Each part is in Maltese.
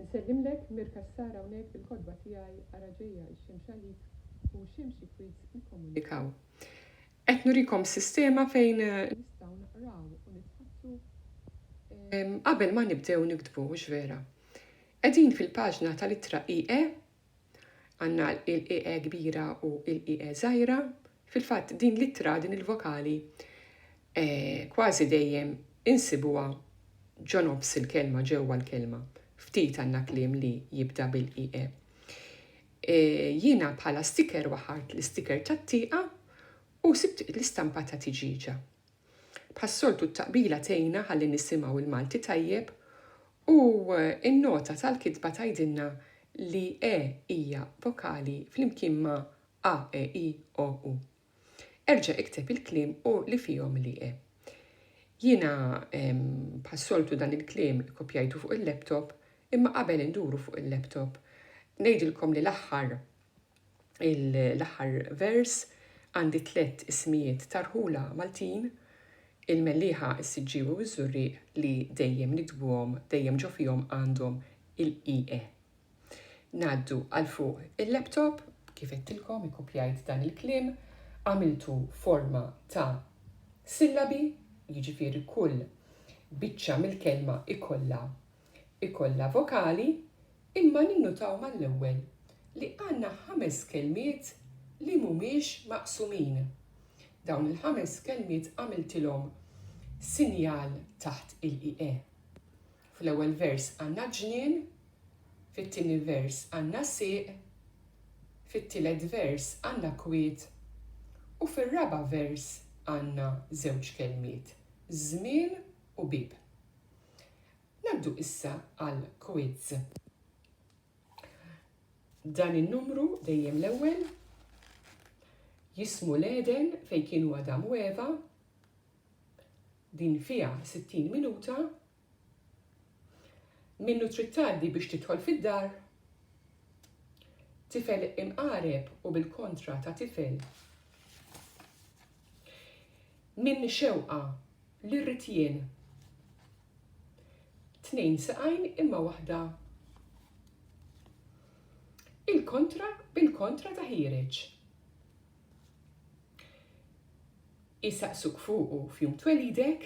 Insellimlek Mir Cassar hawnhekk bil-kotba tiegħi Ara Ġejja x-Xemx Għalik u Xemxi Kwiz Nikkomunikaw. Qed nurikom sistema fejn nistgħu naqraw u nitħaddsu qabel ma nibdew niktbu, hux vera? Qegħdin fil-paġna tal-ittra IE Għandna l-IE kbira u l-IE żgħira. Fil-fatt din l-ittra, din il-vokali, eh, kważi dejjem insibuha ġo nofs il-kelma, ġewwa l-kelma. Ftit għandna kliem li jibda bil-IE. Eh, jiena bħala sticker waħart l-isticker tat-tieqa u sibt l-istampa ta' tiġiġa. Bħas-soltu t-taqbila tgħinna ħalli nisimgħu l-Malti tajjeb U n-nota tal-kitba tgħidilna li e hija vokali flimkien ma' a, e, i, o, u. Erġa' ikteb il-kliem u li fihom li e. Jiena bħas-soltu dan il-kliem ikkopjajtu fuq il-laptop imma qabel induru fuq il-laptop ngħidilkom li l-aħħar l-aħħar vers għandi tliet ismijiet ta' rħula Maltin, il-Mellieħa, is-Siġġiewi u ż-Żurrieq li dejjem nikdbuhom, dejjem ġo fihom għandhom il-EE. Ngħaddu għal fuq il-laptop, kif għedtilkom ikkupjajt dan il-kliem, għamiltu forma ta' sillabi, jiġifieri kull biċċa mill-kelma ikollha ikollha vokali imma ninnutaw mal-ewwel li għandna ħames kelmiet li mhumiex maqsumin. Dawn il-ħames kelmiet għamiltilhom sinjal taħt il-IE. Fl-ewwel vers għandna ġnien, fit-tieni vers għandna sieq, fit-tielet vers għandna kwiet u fir-raba' vers għandna żewġ kelmiet, żmien u bieb. Ngħaddu issa għal quiz. Dan in-numru dejjem l-ewwel jismu l-Eden fejn kienu Adam u Eva din fiha 60 minuta minnu trid tgħaddi biex tidħol fid-dar tifel imqareb u bil-kontra ta' tifel min xewqa li rrid jien. Tnejn saqajn imma waħda Il-kontra bil-kontra ta' ħiereġ. Isaqsuk fuqu f'jum twelidek,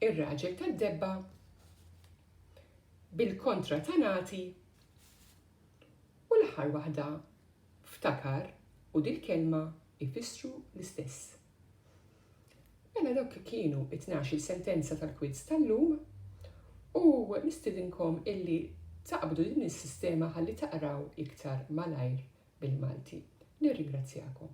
ir-raġel tad-debba bil-kontra ta' nagħti u l-aħħar waħda ftakar u dil-kelma ifissru l-istess. Mela dawk kienu t-tnax-il sentenza tal-quiz tal-lum u nistidinkom illi taqbdu din is-sistema ħalli taqraw iktar malajr bil-Malti. Nirringrazzjakom.